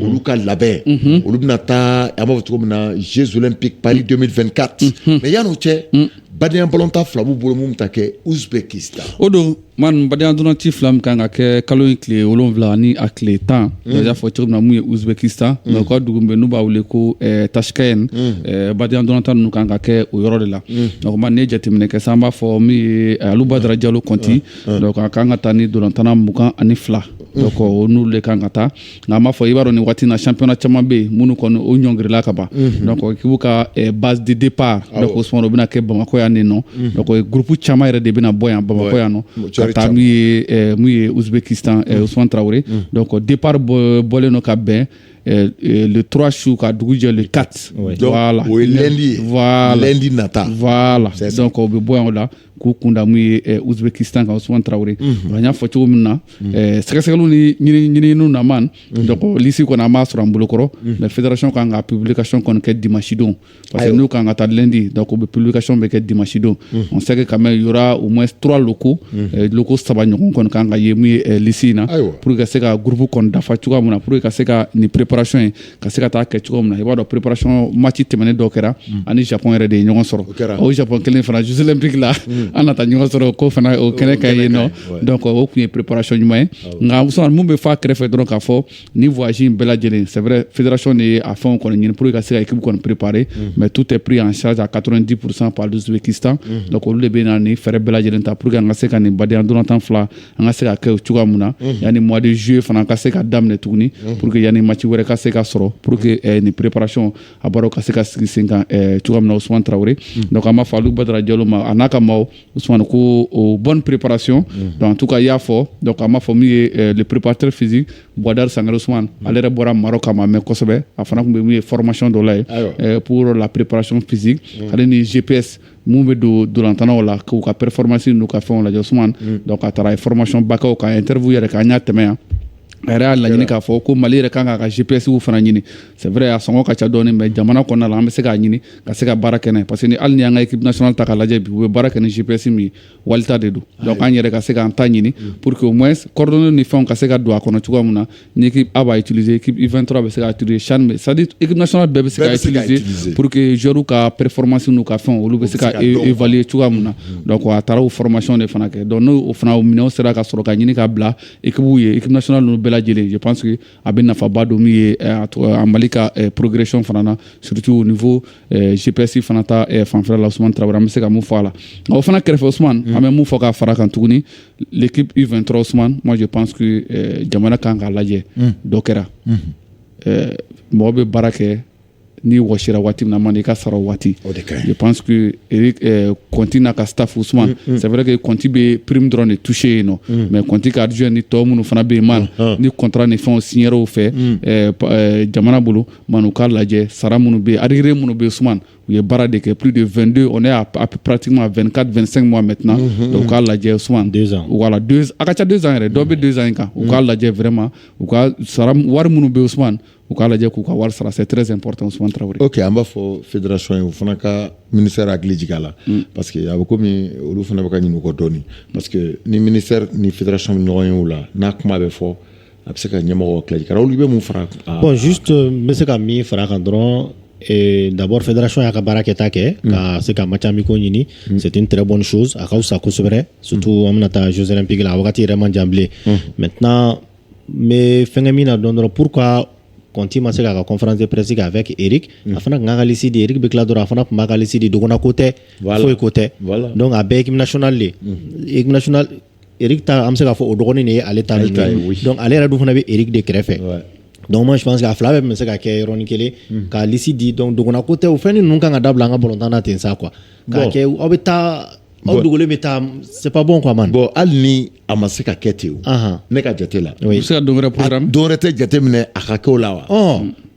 olu ka labɛn olu bɛna taa an b'a fɔ cogo min na Jeux olympiques Paris 2024 mais yann'o cɛ badenya balontan fila b'u bolo min bɛ taa kɛ Ouzbékistan o don ma badenya dolanci fila min kan ka kɛ kalo in tile wolonwula ni a tile tan y'a fɔ cogo min na mun ye Ouzbékistan mais u ka dugu bɛ n'u b'a wele ko Tachkent badenya dolantan ninnu kan ka kɛ o yɔrɔ de la nka ne jateminɛ kɛ sa an b'a fɔ min ye Alou Badara Diallo Conti donc a kan ka taa ni dolantana mugan ani fila donc o n'olu de kan ka taa nka an b'a fɔ i b'a dɔn nin waati na championnat caman bɛ yen minnu kɔni o ɲɔngirila ka ban mhm. donc k'i b'u ka eh, base de départ donc Ousmane o bɛna kɛ bamakɔ yan nin nɔ mhm. donc eh, groupe caman yɛrɛ de bɛna bɔ yan bamakɔ yan nɔ ka taa min ye eh, mun ye Ouzbékistan Ousmane Traoré mhm. donc départ bɔlen don ka bɛn Euh, euh, le 3 su ka dugu jɛ le 4 voilà o ye lundi ye voilà lundi nata voilà donc o bɛ bɔ yan o la k'u kunda mun ye eh, Ouzbékistan kan Ousmane Traoré mhm. an y'a fɔ cogo min na mhm. eh, sɛgɛsɛgɛliw ni ɲininiw na man mhm. donc lisi kɔni an m'a sɔrɔ an bolokɔrɔ mais fédération kan ka publication kɔni kɛ dimanche don parce que n'u kan ka taa lundi donc u bɛ publication bɛ kɛ dimanche don on sait que quand même y aura au moins trois locaux eh, locaux saba ɲɔgɔn kɔni kan ka ye mun ye lisi in na pour que ka se ka groupe kɔni dafa cogoya min na pour que ka se ka nin préparation ye ka se ka taa kɛ cogo min na i b'a dɔn préparation match tɛmɛnen dɔ kɛra mm. ani Japon yɛrɛ de ye ɲɔgɔn sɔrɔ o Japon kelen fana Jeux olympiques la mm. an na taa ɲɔgɔn sɔrɔ ko fana o kɛnɛ kan yen nɔ donc o tun ye préparation ɲuman ye ah nka Ousmane mun bɛ fɔ a kɛrɛfɛ dɔrɔn k'a fɔ nin voyage in bɛɛ lajɛlen c'est vrai fédération de ye a fɛnw kɔni ɲini pour que ka se ka équipe kɔni préparer mm. mais tout est pris en charge à 90% par l'Ouzbékistan donc olu de bɛna nin frais bɛɛ lajɛlen ta pour que an ka se ka nin badenya dolantan fila an ka se ka kɛ cogoya min na mhm. yanni mois de juillet fana ka se ka daminɛ tuguni mhm. pour que yanni match wɛrɛ ka se ka sɔrɔ pour que mhm. eh, nin préparation a baara ka se ka sigi sen kan eh, cogoya min na Ousmane Traoré donc an b'a fɔ Alou Badara Diallo ma a n'a ka maaw Ousmane ko o bonne préparation donc en tout cas i y'a fɔ donc an b'a fɔ min ye eh, le préparateur physique Bouadar Sangare Ousmane ale yɛrɛ bɔra Maroc a ma mɛn kosɛbɛ a fana tun bɛ min ye formation dɔ la ye pour la préparation physique ale ni GPS minnu bɛ don dolantanaw la k'u ka performance n'u ka fɛnw lajɛ Ousmane mm. donc a taara a ye formation ba kɛ o kan interview yɛrɛ kɛ an y'a tɛmɛ yan a yɛrɛ y'a laɲini k'a fɔ ko mali yɛrɛ kan k'a ka gpsw fana ɲini c'est vrai a sɔngɔ ka ca dɔɔni mais jamana kɔnɔna la an bɛ se k'a ɲini ka se ka baara kɛ n'a ye parce que ni hali n'i y'an ka équipe nationale ta k'a lajɛ bi u bɛ baara kɛ ni gps min ye wali ta de don donc an yɛrɛ ka se k'an ta ɲini pour que au moins coordonnées ni fɛnw ka se ka don a kɔnɔ cogoya min na ni équipe A b'a utiliser équipe U23 bɛ se k'a utiliser CHAN bɛ c'est à dire équipe nationale bɛɛ bɛ se k'a utiliser pour que joueurs ka performance n'u ka fɛnw olu bɛ se ka évaluer cogoya min na donc a taara o formation de fana kɛ donc n'o fana o minɛnw sera ka sɔrɔ ka ɲini ka bila équipew ye équipe nationale ninnu bɛɛ lajɛlen je pense que a bɛ nafaba don min ye eh, a mali ka eh, progression fana na surtout au niveau eh, gps fana ta fanfɛla la usman tarawele an bɛ se ka mun fɔ a la o fana kɛrɛfɛ usman mm. an bɛ mun fɔ k'a fara kan tuguni l'équipe u23 usman moi je pense que jamana kan k'a lajɛ mm. dɔ kɛra mm-hmm. mɔgɔ bɛ baara kɛ ni wasira waati na man i ka sɔrɔ waati panse kɔnti n'a ka tafu suma sɛɛrɛke kɔnti bɛ pererime dɔrɔn de tuuse yen nɔ mɛ kɔnti ka ardisi ni tɔ minnu fana bɛ yen ma ni kɔntan ni fɛn siw fɛ jamana bolo ma u k'a lajɛ sara minnu bɛ arire minnu bɛ sumaman u ye baara de kɛ p de vdo o ne y'a ppti ma vka2sɛn ma mɛt u k'a lajɛ su wala a ka ca dezsan yɛrɛ dɔ bɛ dezsan in kan u k'a lajɛ fɛrɛma u ka wari minnu bɛ yen sumaman u k'a lajɛ k'u ka wari sara c'est très important Ousmane Traoré. Ok an b'a fɔ fédération ye o fana ka ministère hakili jigin a la. Mm. Parce que a bɛ komi olu fana bɛ ka ɲinɛ u kɔ dɔɔni. Parce que ni ministère ni fédération bɛ ɲɔgɔn ye o la n'a kuma bɛ fɔ a bɛ se ka ɲɛmɔgɔ hakili jigin olu bɛ mun fara. Bon juste n bɛ se ka min fara a kan dɔrɔn. Et d'abord fédération y'a ka baara kɛta kɛ mm. ka se ka match amicaux ɲini mm. c'est une très bonne chose a ka fisa kosɛbɛ surtout mm. an bɛna taa Jeux olympiques la a wagati yɛrɛ man jan bilen maintenant n bɛ fɛnkɛ min na dɔn dɔrɔn pourquoi kɔnti ma se k'a ka conférence de presse kɛ avec Eric a fana tun k'a ka liste di Eric bɛ tila dɔrɔn a fana tun b'a ka liste di dogona ko tɛ foyi ko tɛ donc a bɛɛ équipe nationale de ye équipe nationale Eric ta an bɛ se k'a fɔ o dɔgɔnin de ye ale ta donc ale yɛrɛ dun fana bɛ Eric de kɛrɛfɛ donc moi je pense que a fila bɛɛ tun bɛ se ka kɛ yɔrɔnin kelen ka liste di donc dogona ko tɛ o fɛn ninnu kan ka dabila an ka balontan na ten sa quoi K'a kɛ aw bɛ taa aw dogo bɛ taa c'est pas bon quoi man bon hali ni a ma se ka kɛ ten o ne ka jate la i se dɔwɛrɛ tɛ jate minɛ a ka kɛ o la wa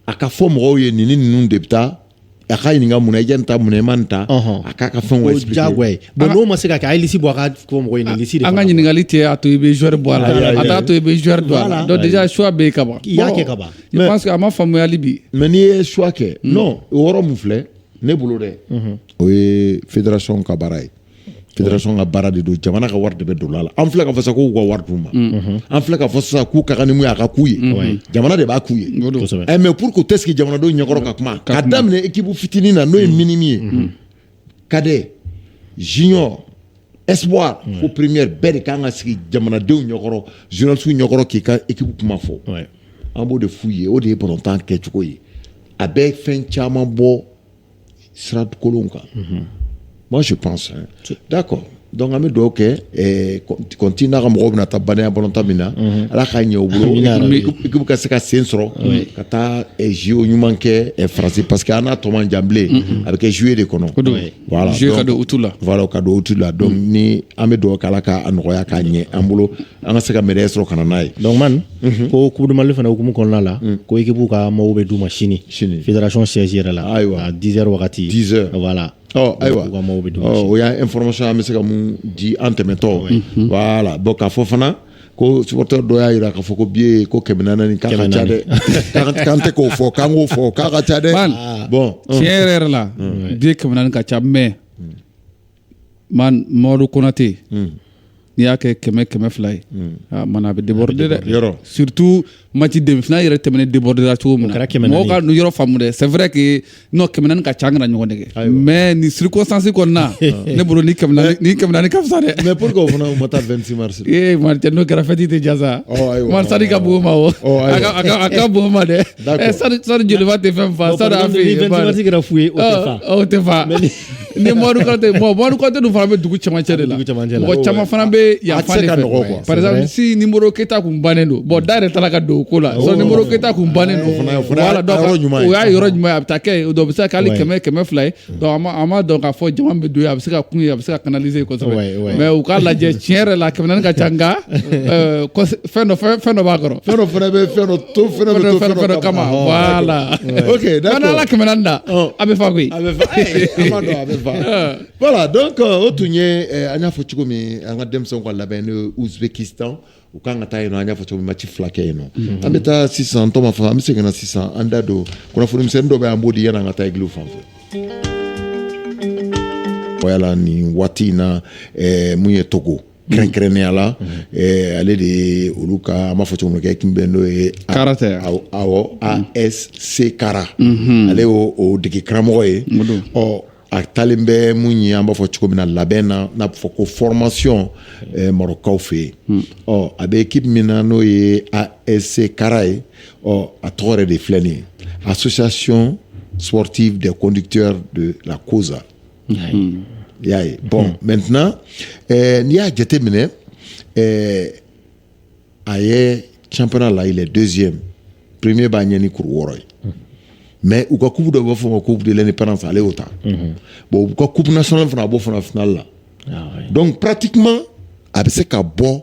a ka fɔ mɔgɔw ye nin ni ninnu de bɛ taa a ka ɲininka mun na i ye nin ta mun na i ma nin ta a k'a ka fɛn jago bon n'o ma se ka kɛ liste bɔ ka mɔgɔ an ka ɲininkali tɛ a to i bɛ joueur bɔ a la a t'a to i bɛ joueur don a la déjà choix bɛ yen ka ban i y'a kɛ ka ban je pense a ma faamuyali bi mais n'i ye choix kɛ o yɔrɔ min filɛ ne bolo dɛ o ye fédération ka baara ye fédération ka baara de don jamana ka wari de bɛ don a la an filɛ k'a fɔ sisan k'u ka wari d'u ma an filɛ k'a fɔ sisan k'u ka kan ni mun ye a ka k'u ye jamana de b'a k'u ye eh, mais pourquoi u tɛ sigi jamanadenw ɲɛkɔrɔ ka kuma ka daminɛ équipe fitinin na n'o ye minime ye cadet junior espoir ouais. fo première bɛɛ de kan ka sigi jamanadenw ɲɛkɔrɔ journalisiw ɲɛkɔrɔ k'i ka équipe kuma fɔ ouais. an b'o de f'u ye o de ye balontan kɛcogo ye a bɛ fɛn caman bɔ sira kolon kan mm -hmm. moi je pense hein. d'accord donc an bɛ dugawu kɛ eh, kɔnti n'a ka mɔgɔw bɛna taa badenya balontan min na mhm. ala k'a ɲɛ u bolo ekipu ka se ka sen sɔrɔ ka taa jo eh, ɲuman kɛ eh, faransi parce que an n'a tɔ man jan bilen mhm. a bɛ kɛ juillet de kɔnɔ voilà, juillet ka don août la voilà ka don août la donc mm. ni an bɛ dugawu k'ala k'a nɔgɔya k'a ɲɛ an bolo an ka se ka médaille sɔrɔ ka na n'a ye donc man mm -hmm. ko coupe du mali fana hukumu kɔnɔna la mm. ko ekipu ka maillots bɛ d'u ma sini sini fédération siège yɛrɛ la ayiwa à 10 heures wagati 10 heures voilà ɔ ayiwa o y'a information an bɛ se ka mun di an tɛmɛtɔ voilà bon k'a fɔ fana ko supporter dɔ y'a jira k'a fɔ ko biye ko kɛmɛ naani k'a ka ca dɛ k'an tɛ k'o fɔ k'an k'o fɔ k'a ka ca dɛ bon tiɲɛ yɛrɛ yɛrɛ la biye kɛmɛ naani ka ca mais man mɔdu konate n'i y'a kɛ kɛmɛ kɛmɛ fila ye mana a bɛ déborder dɛ surtout mati demi-finale yɛrɛ tɛmɛnen debɔdera cogo min na mɔgɔ ka yɔrɔ faamu dɛ c'est vrai que non kɛmɛ naani ka ca an kana ɲɔgɔn nɛgɛn mais nin circonstance kɔnɔna ne bolo ni kɛmɛ naani ni kɛmɛ naani ka fisa dɛ mais pourquoi o fana u ma taa 26 mars ee martin n'o kɛra fɛti tɛ diya sa man stade ka bon u ma o a ka bon u ma dɛ stade joliba tɛ fɛn fa stade AFE yen 26 mars kɛra fu ye o tɛ fa o tɛ fa ni mɔdu konate bon mɔdu konate dun fana bɛ dugu cɛmancɛ de la dugu cɛmancɛ la. mɔgɔ caman fana bɛ yan fan de ka fɛ nɔgɔ quoi. par exemple si ni modibo keita kun bannen don bon da yɛrɛ taara ka don o ko la si ni modibo keita kun bannen don fana- o fana y'a yɔrɔ ɲuman ye. o y'a yɔrɔ ɲuman ye a bɛ taa kɛ yen o don o bɛ se ka kɛ hali Ouais. kɛmɛ kɛmɛ fila ye donc an ma- an m'a dɔn k'a fɔ jama bɛ don yen a bɛ se ka kun yen a bɛ se ka canaliser Ouais, kosɛbɛ ouais. mais u k'a lajɛ tiɲɛ yɛrɛ la kɛmɛ naani ka ca nka euh, kɔs- fɛn dɔ fɛn fɛn dɔ b'a kɔrɔ fɛn dɔ fana bɛ fɛn dɔ dɔ fana bɛ to fɛn dɔ kama voilà ok d'accord hali kɛmɛ naani da a bɛ fa koyi a bɛ fa an b'a dɔn a bɛ fa voilà donc euh, o tun ye euh, an y'a fɔ cogo min an ka denmisɛnw ka labɛn n'o ye Uzbekistan u kan ka taa yen nɔ an y'a fɔ cogo min mati fila kɛ yen nɔ mhm. an bɛ taa sisan tɔ ma fɔ an bɛ segin na sisan an da don kunnafoni misɛnnin dɔ bɛ an b'o di yanni an ka taa egiliw fan fɛ voilà nin waati in na eh, mun ye togo kɛrɛnkɛrɛnnenya la ale de ye olu ka an b'a fɔ cogo min na kɛ ekipu min bɛ n'o ye kara tɛ awɔ ASC kara ale y'o o degekaramɔgɔ ye ɔ a taalen bɛ mun ye an b'a fɔ cogo min na labɛn na n'a bɛ fɔ ko formation marɔkaw fɛ yen ɔ a bɛ ekipu min na n'o ye ASC kara ye ɔ a tɔgɔ yɛrɛ de filɛ nin ye association sportive des conducteurs de la kozah Hmm. I y'a ye bon hmm. maintenant eh, n'i y'a jateminɛ eh, a ye championnat la il est deuxième premier b'a ɲɛ ni kuru wɔɔrɔ ye hmm. mais u ka coupe dɔ b'a fɔ ma coupe de l'indépendance ale y'o ta bon u ka coupe nationale fana a b'o fana finale la ah donc pratiquement a bɛ se ka bɔ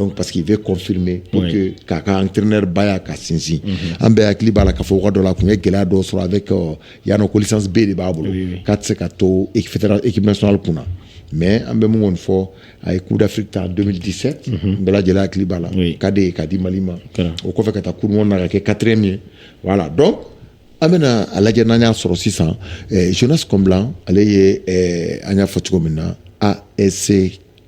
Donc parce qu'il veut confirmer pour oui. que k'a ka entraîneur baya ka sinsin mm -hmm. an bɛɛ hakili b'a la k'a fɔ wagati dɔ la a tun ye gɛlɛya dɔ sɔrɔ avec euh, yan nɔ ko licence B de b'a bolo oui, oui. k'a tɛ se ka to équipe nationale kun na mais an bɛ mun kɔni fɔ a ye coupe d'afrique ta 2017 mm -hmm. an bɛɛ lajɛlen hakili b'a la oui. cadet ye k'a di mali ma o kɔfɛ ka taa coupe du monde na ka kɛ quatrième ye voilà donc an bɛna a lajɛ n'an y'a sɔrɔ sisan eh, jonas komla ale ye eh, an y'a fɔ cogo min na as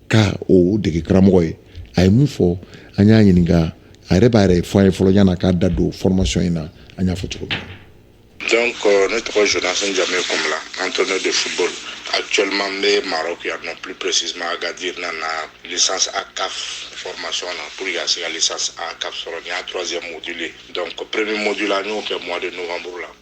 ka o dege karamɔgɔ ye a ye mun fɔ an y'a ɲininka a yɛrɛ b'a yɛrɛ fɔ an ye fɔlɔ yanni a k'a da don formation in na an y'a fɔ cogo min na donc euh, ne tɔgɔ jonas njame komla entraîneur de football actuellement n bɛ maroc yan nɔ plus précisément agadir nana licence a caf formation na pour que ka se ka licence a caf sɔrɔ nin y'a troisième module ye donc premier module an y'o kɛ mois de novembre la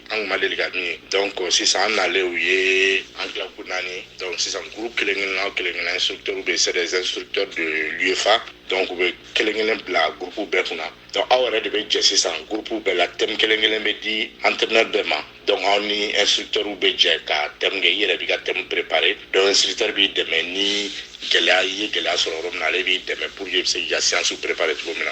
an tun ma deli ka min ye donc sisan an nalen u ye an tila kulu naani donc sisan groupe kelen kelen na u kelen kelen na instructeurw bɛ c'est des instructeurs de l'UEFA donc u bɛ kelen kelen bila groupe bɛɛ kunna donc aw yɛrɛ de bɛ jɛ sisan groupe bɛɛ la thème kelen kelen bɛ di entraîneur bɛɛ ma donc aw ni instructeur bɛ jɛ ka thème kɛ i yɛrɛ b'i ka thème préparer donc instructeur b'i dɛmɛ ni gɛlɛya i ye gɛlɛya sɔrɔ yɔrɔ min na ale b'i dɛmɛ pour que i bɛ se k'i ka séancew préparer cogo min na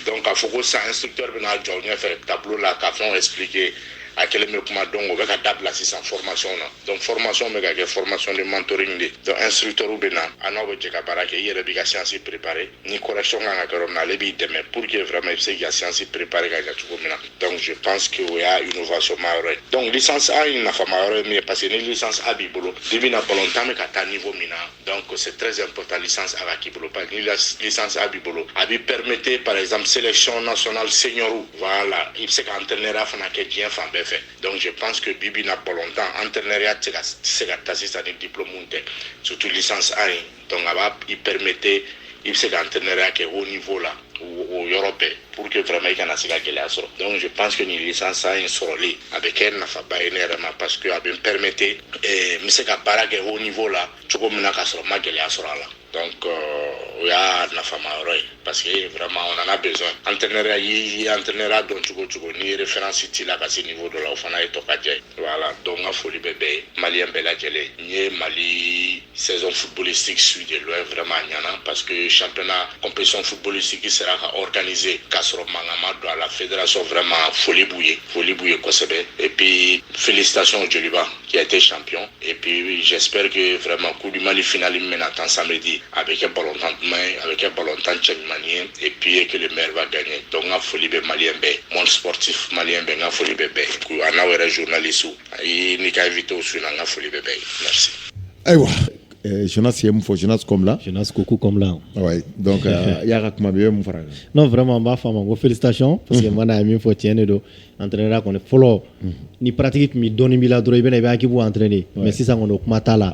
donc k'a fɔ ko sisan instructeur bɛna jɔ ɲɛfɛ tableau la ka fɛnw expliquer a kelen bɛ kuma donc o bɛ ka dabila sisan formation na donc formation bɛ ka kɛ formation de mentoring de donc instructeur bɛ na a n'aw bɛ jɛ ka baara kɛ i yɛrɛ b'i ka séance préparer ni correction kan ka kɛ yɔrɔ min na ale b'i dɛmɛ pour que vraiment i bɛ se k'i ka séance préparer ka ɲɛ cogo min na Donc je pense que o y'a innovation ma yɔrɔ ye donc licence A in nafama yɔrɔ ye min ye parce que ni licence A b'i bolo bibi na balontan bɛ ka taa niveau min na donc c'est très important licence A ka k'i bolo parce que ni licence A b'i bolo a b'i permettre par exemple sélection nationale senior voilà i bɛ se ka entraîneuriya fana kɛ diɲɛ fan bɛɛ fɛ donc je pense que bibi na balontan entraîneuriya tɛ se ka taa sisan ni diplôme tɛ surtout licence A in donc a b'i permettre i bɛ se ka entraîneuriya kɛ haut niveau la o yɔrɔ bɛɛ pour que vraiment i kana se ka gɛlɛya sɔrɔ donc je pense que nin licence A in sɔrɔli a bɛ kɛ nafaba ye ne yɛrɛ ma parce que a bɛ n permettre eh, n bɛ se ka baara kɛ haut niveau la cogo min na k'a sɔrɔ n ma gɛlɛya sɔrɔ a la donc euh, o y'a nafama yɔrɔ ye parce que vraiment on en a besoin entraîneuriya i entraîneuriya dɔn cogo cogo ni référence t'i la ka se niveau dɔ la o fana ye tokajɛ ye voilà donc n ka foli bɛ bɛɛ ye maliyɛn bɛɛ lajɛlen n ye mali saison footballistique suivre de loin vraiment a ɲana parce que championnat compétition footballistique sera ka organiser k'a sɔrɔ mankan ma don a la fédération vraiment foli b'u ye foli b'u ye kosɛbɛ et puis félicitations au joliba qui a été champion et puis j'espère que vraiment coupe du mali finale min bɛna tan samedi a bɛ kɛ balontan duman ye a bɛ kɛ balontan cɛ ɲuman ye et puis que le meilleur va gagner donc n ka foli bɛ maliyɛn bɛɛ monde sportif maliyɛn bɛɛ n ka foli bɛ bɛɛ ye an'aw yɛrɛ journalistew ayi n'i ka invitéw su na n ka foli bɛ bɛɛ ye merci ayiwa eh, Jonas ye mun fɔ Jonas Komla Jonas Kokou Komla ouais donc euh, y'a ka kuma mɛn i bɛ mun fara kan non vraiment n b'a fɔ a ma ko félicitations parce que mana ye min fɔ tiɲɛ de don entraîneur kɔni fɔlɔ ni pratique tun bɛ dɔɔnin b'i la dɔrɔn i bɛna i bɛ équipe entraîner mais sisan kɔni o kuma t'a la